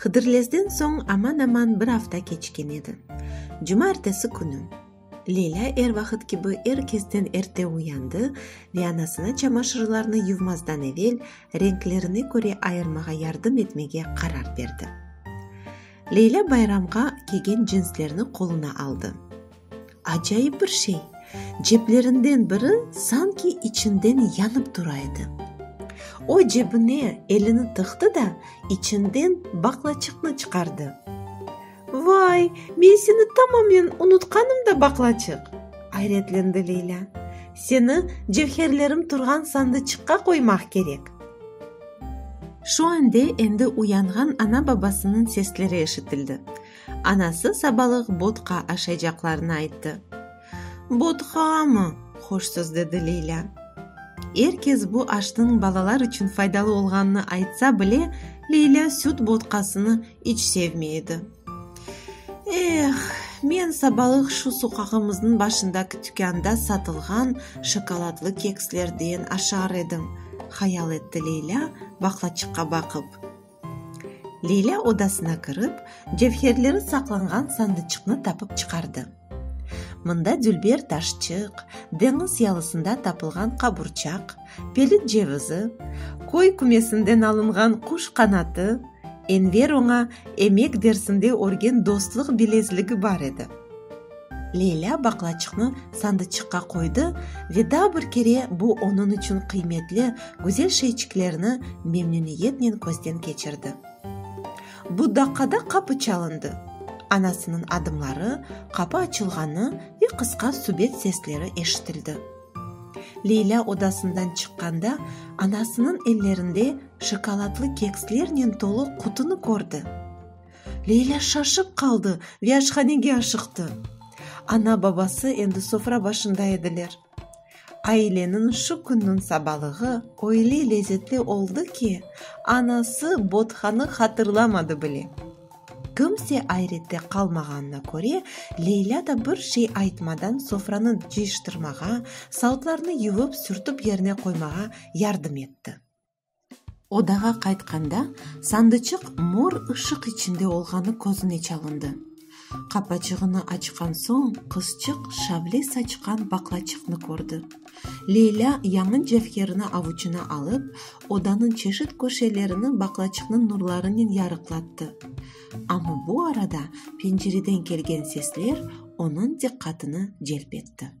Hıdırlezden soñ aman-aman bir afta keçken edi. Cuma ertesi künü. Leyla er vaqıt kibi er kesden erte uyandı ve anasına çamaşırlarnı yuvmazdan evel renklerine köre ayırmağa yardım etmege qarar berdi. Leyla bayramğa kiygen cinslerni qoluna aldı. Acayip bir şey, ceplerinden biri sanki içinden yanıp tura edi. O cebine elini tıqtı da, içinden baqlaçıqnı çıqardı. Vay, men seni tamamen unutqanım da, baqlaçıq! ayretlendi Leylâ. Seni cevherlerim turğan sandıçıqqa qoymaq kerek. Şu ande endi uyanğan ana-babasınıñ sesleri eşitildi. Anası sabalıq bodka aşaycaqlarını ayttı. Bodkamı? hoşsuz dedi Leylâ. Er kes bu aşnıñ balalar içün faydalı olğanını aytsa bile, Leylâ süt bodkasını iç sevmey edi. Eh, men sabalıq şu soqağımıznıñ başındaki tükânda satılğan şokoladlı kekslerden aşar edim, hayal etti Leylâ baqlaçıqqa baqıp. Leylâ odasına kirip, cevherleri saqlanğan sandıçıqnı tapıp çıqardı. Mında dülber taşçıq, deñiz yalısında tapılğan qaburçaq, pelit cevizi, köy kümesinden alınğan quş qanatı, Enver oña emek dersinde örgen dostluq bilezligi bar edi. Leylâ baqlaçıqnı sandıçıqqa qoydı ve daa bir kere bu onıñ içün qıymetli, güzel şeyçiklerni memnüniyetnen közden keçirdi. Bu daqqada qapı çalındı. Anasınıñ adımları, qapı açılğanı ve qısqa subet sesleri eşitildi. Leylâ odasından çıqqanda anasınıñ ellerinde şokoladlı kekslernen tolu qutını kördi. Leyla şaşıp qaldı ve aşhanege aşıqtı. Ana-babası endi sofra başında ediler. Aileniñ şu künniñ sabalığı öyle lezetli oldı ki, anası Bodhanı hatırlamadı bile. Kimse ayrette qalmağanına köre, Leyla da bir şey aytmadan sofranı cıyıştırmağa, sautlarnı yuvıp-sürtip yerine qoymağa yardım etti. Odağa qaytqanda, sandıçıq mor ışıq içinde olğanı közüne çalındı. Qapaçığını açqan soñ, qızçıq şavle saçqan baqlaçıqnı kördi. Leylâ yañı cevherini avuçına alıp, odanıñ çeşit köşelerini baqlaçıqnıñ nurlarınen yarıqlattı. Amma bu arada pencereden kelgen sesler onıñ diqqatını celp etti.